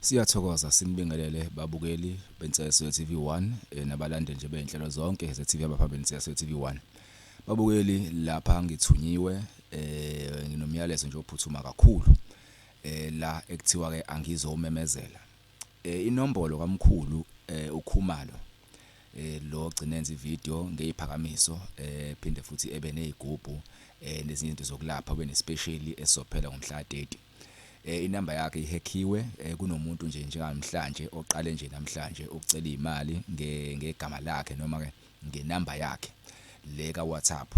Siyathokoza sinibingelele babukeli beNsizwe TV1 eh, nabalandeli nje bezinhlelo zonke zeTV abaphambili Insizwe TV1. Babukeli lapha ngithunyiwe eh nginomyalezo nje ophuthuma kakhulu eh la ekuthiwa ke angizomemezela. Eh inombolo kamkhulu eh ukhumalo eh lo gcinenza ivideo ngeziphakamiso eh phinde futhi ebe nezigubhu eh nezinye izinto zokulapha ube nespecially esophela ngomhla 30. eh inamba yakhe ihackiwe eh, kunomuntu nje njengamhlanje oqale nje namhlanje ukucela imali nge ngegama lakhe noma ke ngenamba yakhe le ka WhatsApp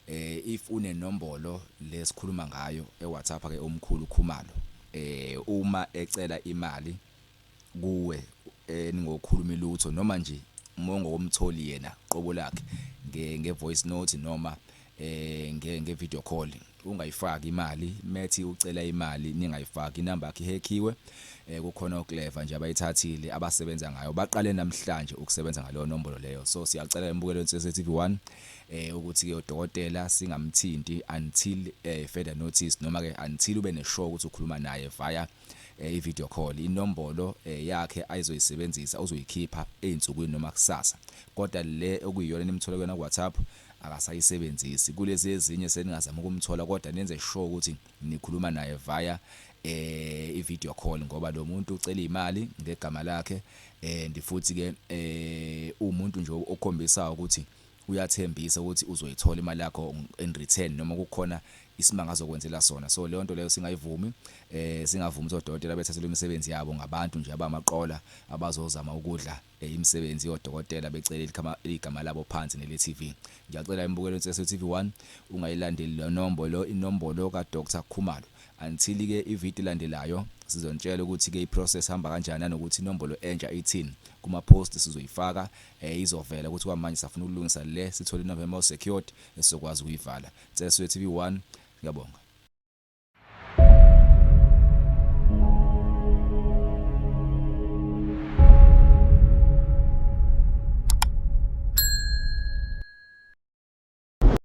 eh if une nombolo lesikhuluma ngayo e WhatsApp ke omkhulu Khumalo eh uma ecela imali kuwe eningokhulumi lutho noma nje umongo womtholi yena qobo lakhe nge nge voice note noma eh nge nge video call ungayifaki imali methi ucela imali ningayifaki inamba yakhe ihekhiwe eh kukhona oclever nje abayithathile abasebenza ngayo baqale namhlanje ukusebenza ngaleyo nombolo leyo so siyacela embukelo insese TV1 eh ukuthi ke udokotela singamthinti until eh further notice noma ke until ube ne show ukuthi ukhuluma naye via eh, i-video call inombolo eh, yakhe ayizoyisebenzisa uzoyikhipha ezinsukwini noma kusasa kodwa le okuyiyona nimthola kuyona WhatsApp akasayisebenzisi kulezi ezinye seningazama ukumthola kodwa nenze sure ukuthi nikhuluma naye via eh i-video call ngoba lo muntu ucela imali ngegama lakhe eh ndifuthi ke eh umuntu nje okhombisa ukuthi uyathembisa ukuthi uzoyithola imali yakho in return noma kukhona isimanga azokwenzela sona so leyo nto leyo singayivumi eh singavumi ukuthi odokotela bethathelwe imisebenzi yabo ngabantu nje abamaqola abazozama ukudla eh, imisebenzi yodokotela becela ilikama- igama labo phansi nele TV ngiyacela imbukelo insese TV 1 ungayilandeli le nombolo inombolo ka Dr Khumalo until ke ivideo landelayo sizonitshela ukuthi ke iprocess hamba kanjani nanokuthi inombolo entsha ithini kuma post sizoyifaka Ehh izovela ukuthi kwamanje safuna ukulungisa le sithole iNovember o secured esizokwazi ukuyivala. Ngicela siwe TV one. Ngiyabonga.